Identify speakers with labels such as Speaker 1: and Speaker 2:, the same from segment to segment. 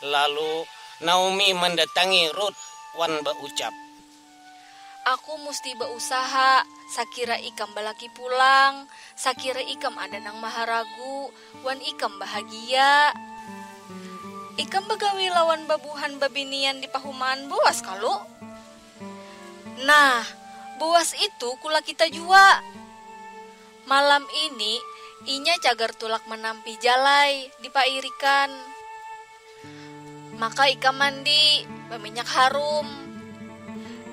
Speaker 1: Lalu, Naomi mandatangi Rut wan baucap.
Speaker 2: Aku musti bausaha, sakira ikam balaki pulang, sakira ikam ada nang maharagu, wan ikam bahagia. Ikam bagawi lawan babuhan babinian di pahumaan Boas kalu? Nah, Boas itu kulakita jua. Malam ini, inya cagar tulak manampi jalai di pairikan. Maka ikam mandi, baminyak harum.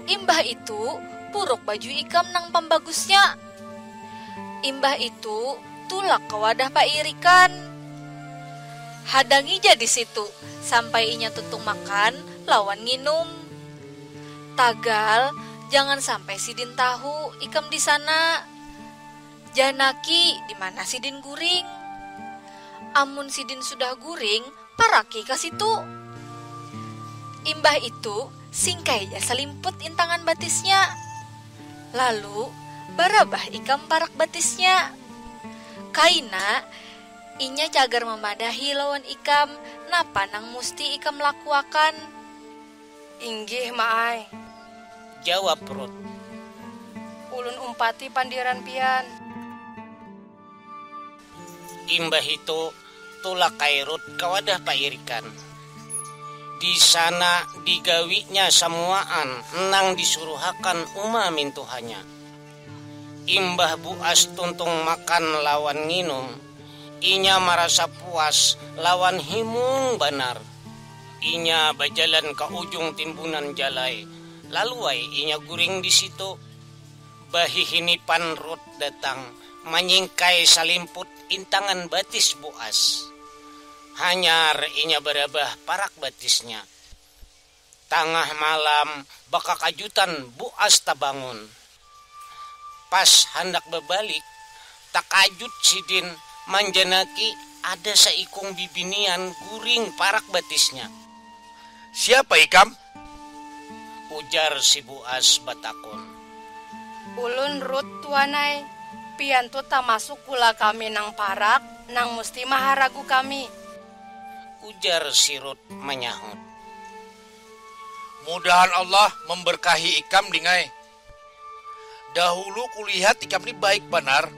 Speaker 2: Imbah itu, puruk baju ikam nang pambagusnya. Imbah itu, tulak ka wadah pairikan. Hadangi ja di situ sampai inya tuntung makan lawan nginum. Tagal, jangan sampai sidin tahu ikam di sana. Janaki, dimana sidin guring? Amun sidin sudah guring, paraki ka situ. Imbah itu, singkai ja salimput intangan batisnya. Lalu, barabah ikam parak batisnya. Kaina, inya cagar mamadahi lawan ikam napa nang musti ikam lakuakan.
Speaker 3: Inggih, Ma ai. Jawab
Speaker 1: Ruth.
Speaker 3: Ulun umpati pandiran pian.
Speaker 1: Imbahitu, tulak ai Ruth ka wadah pairikan. Di sana digawinya samuaan nang disuruhakan uma mintuhanya. Imbah buas tuntung makan lawan nginum, inya marasa puas lawan himung banar. Inya bajalan ka ujung timbunan jalai, lalu ai inya guring di situ. Bahihinipan Rut datang manyingkai salimput intangan batis Boas. Hanyar inya barabah parak batisnya. Tangah malam, bakakajutan Boas tabangun. Pas handak babalik, takajut sidin manjanaki ada saikung bibinian guring parak batisnya.
Speaker 4: Siapa ikam?
Speaker 1: ujar si Buas batakun.
Speaker 3: Ulun Ruth tuan ai. Pian tu tamasuk kula kami nang parak nang musti maharagu kami.
Speaker 1: Ujar si Ruth manyahut.
Speaker 4: mudahan allah memberkahi ikam ding ai dahulu kulihat ikam ni baik banar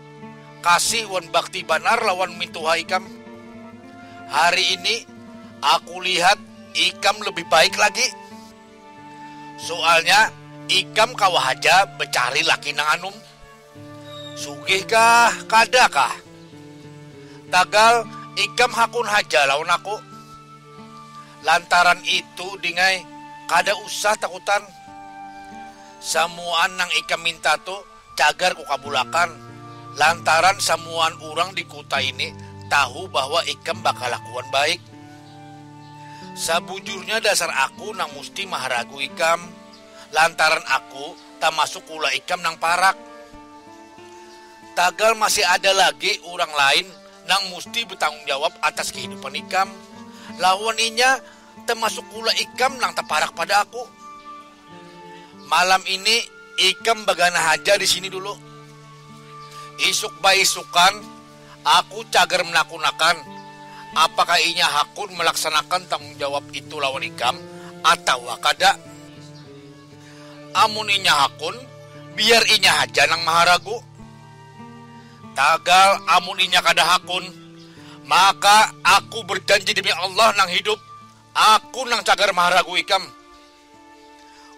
Speaker 4: kasih wan bakti banar lawan mintuha ikam hari ini aku lihat ikam lebih baik lagi sualnya ikam kawa haja becari laki nang anum. Sugih kah, kada kah? Tagal, ikam hakun haja lawan aku. Lantaran itu, Dingai, kada usah takutan. Samuaan nang ikam minta tu cagar kukabulakan, lantaran samuaan urang di kuta ini tahu bahwa ikam bakalakuan baik. Sabujurnya dasar aku nang musti maharagu ikam, lantaran aku tamasuk ulah ikam nang parak. Tagal masih ada lagi urang lain nang musti batanggung jawab atas kahidupan ikam. Lawan inya, tamasuk ulah ikam nang taparak pada aku. Malam ini ikam baganah haja di sini dulu. Isuk baisukan aku cagar manakunakan apakah inya hakun malaksanakan tanggung jawab itu lawan ikam atawa kada. Amun inya hakun, biar inya haja nang maharagu. Tagal amun inya kada hakun, maka aku berjanji demi Allah nang hidup, aku nang cagar maharagu ikam.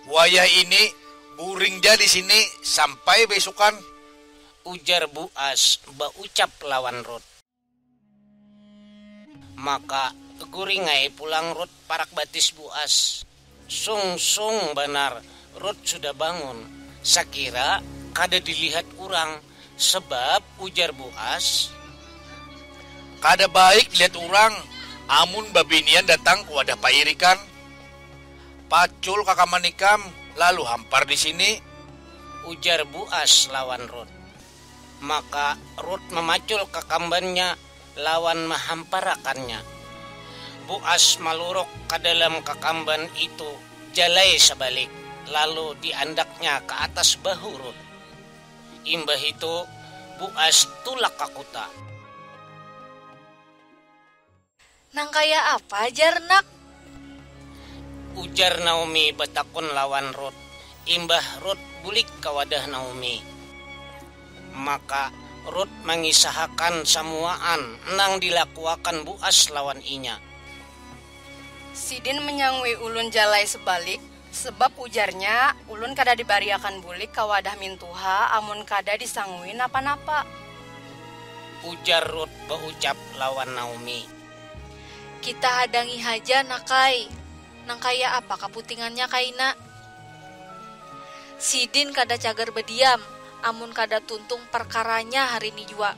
Speaker 4: Wayah ini, guring ja di sini sampai baisukan. Ujar
Speaker 1: Buas baucap lawan Rut. Maka guring ai pulang Rut parak batis buas. Sung sung banar Rut sudah bangun, sakira kada dilihat urang sebab ujar buas.
Speaker 4: Kada baik dilihat urang amun babinian datang ke wadah pairikan. Pacul kakaman ikam lalu hampar di sini. Ujar
Speaker 1: buas lawan Rut. Maka Rut mamacul kakambannya lawan mahamparakannya. Boas maluruk ka dalam kakamban itu jalai sabalik, lalu diandaknya ka atas bahu Rut. Imbah itu, Boas tulak ka kuta.
Speaker 2: Nang kaya apa jar nak?
Speaker 1: Ujar Naomi batakun lawan Rut. Imbah Rut bulik ka wadah Naomi, maka Rut mangisahakan samuaan nang dilakuakan Boas lawan inya.
Speaker 3: Sidin manyangui ulun jalai sebalik, Sebab ujarnya, Ulun kada dibariakan bulik ka wadah mintuha amun kada disangui napa-napa.
Speaker 1: Ujar Rut baucap lawan Naomi. Kita
Speaker 2: hadangi haja nak'ai, nang kaya apa kaputingannya kaina. Sidin kada cagar badiam amun kada tuntung parkaranya
Speaker 1: hari ni
Speaker 2: jua.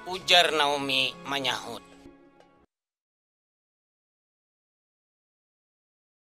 Speaker 2: Ujar Naomi manyahut.